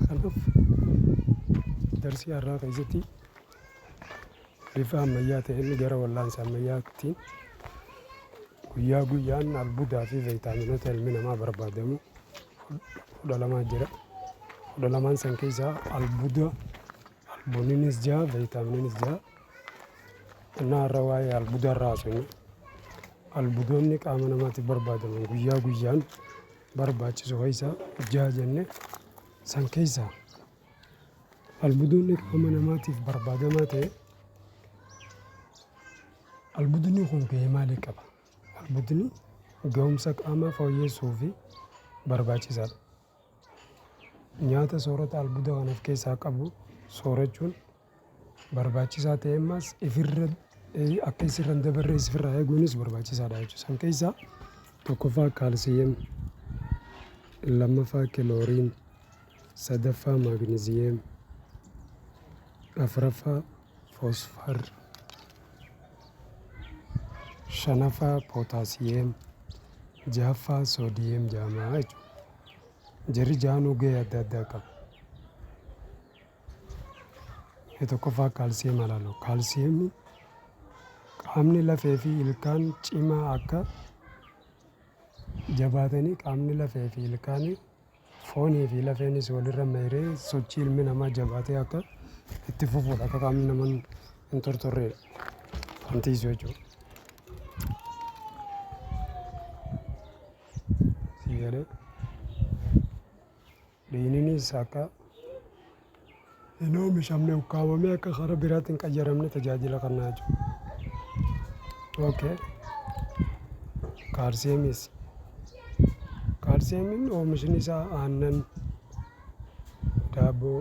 Kanaaf darsii har'aa keessatti bifa ammayyaa ta'een gara wallaansa ammayyaatti guyyaa guyyaan albuudaa fi veeyitaaminoota ilmi namaa barbaadamu fudhalamaa jira. Fudhalamaan san keessaa albuuda albuuninis jira veeyitaamininis jira. Innaa har'a waa'ee albuudaa irraa haasofna. Albuudonni qaama namaatiif barbaadaman guyyaa guyyaan barbaachisu keessaa jaha jenne san keessaa albuudonni qaama namaatiif barbaadamaa ta'e albuudonni kun gahee maalii qaba? Albuudonni gahumsa qaamaa fooyyessuu fi barbaachisaadha. Nyaata soorata albuuda waan of keessaa qabu soorachuun barbaachisaa ta'e ammas ifirra akka isirra hin dabarre isirraa eeguunis barbaachisaadha jechuudha. San keessaa tokkoffaa kaalsiyeem, lammaffaa kilooriin, sadaffaa maagniziyeem, afraffaa foosfar, shanaffaa pootaasiyeem, jahaffaa soodiyeem jaamaa jechuudha. Jarri jaanuu gahee adda addaa qaba. Inni tokkoffaa kaalsiyeem alaaloo. Kaalsiyeemni qaamni lafee fi ilkaan cimaa akka jabaatanii qaamni lafee fi ilkaan foonii fi lafeenis walirra mayree sochii ilmi namaa jabaatee akka itti fufuudha akka qaamni nama hin tortorreedha. Wantiisu jechuudha. Sii galee. Dhiigninis akka hin oomishamne ukkaamamee akka karaa biraatti hin qayyaramne tajaajila kennaa jiru. Okay. Kaarseemis. Kaarseemiin oomishni isaa aannan, daabboo,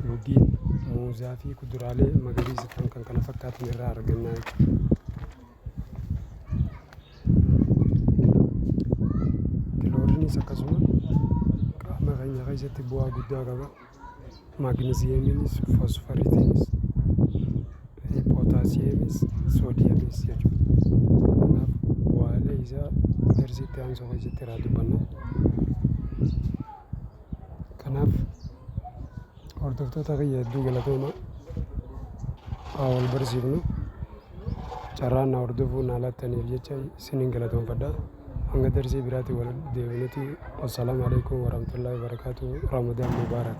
dhugii, muuzaa fi kuduraalee magariisa ta'an kan kana fakkaatan irraa argannaa jechuudha. Kilooriinis akkasuma qaama keenya keessatti bu'aa guddaa qaba. Magnesiyeemiinis, fosforiitiinis, pootaasiyeemiinis, soodiyemiinis jechuudha. Kanaaf bu'aalee isaa darsii itti aansu keessatti irraa dubbanna. Kanaaf... Hordoftoota kiyya hedduu galatooma haa wal barsiifnu carraan na hordofuu naa laattaniif jecha isiniin galatoomfadha hanga darsii biraatiin wal deebinuti wassalaamu alaikum warahmatullahi wabarakatuh ramadan mubarak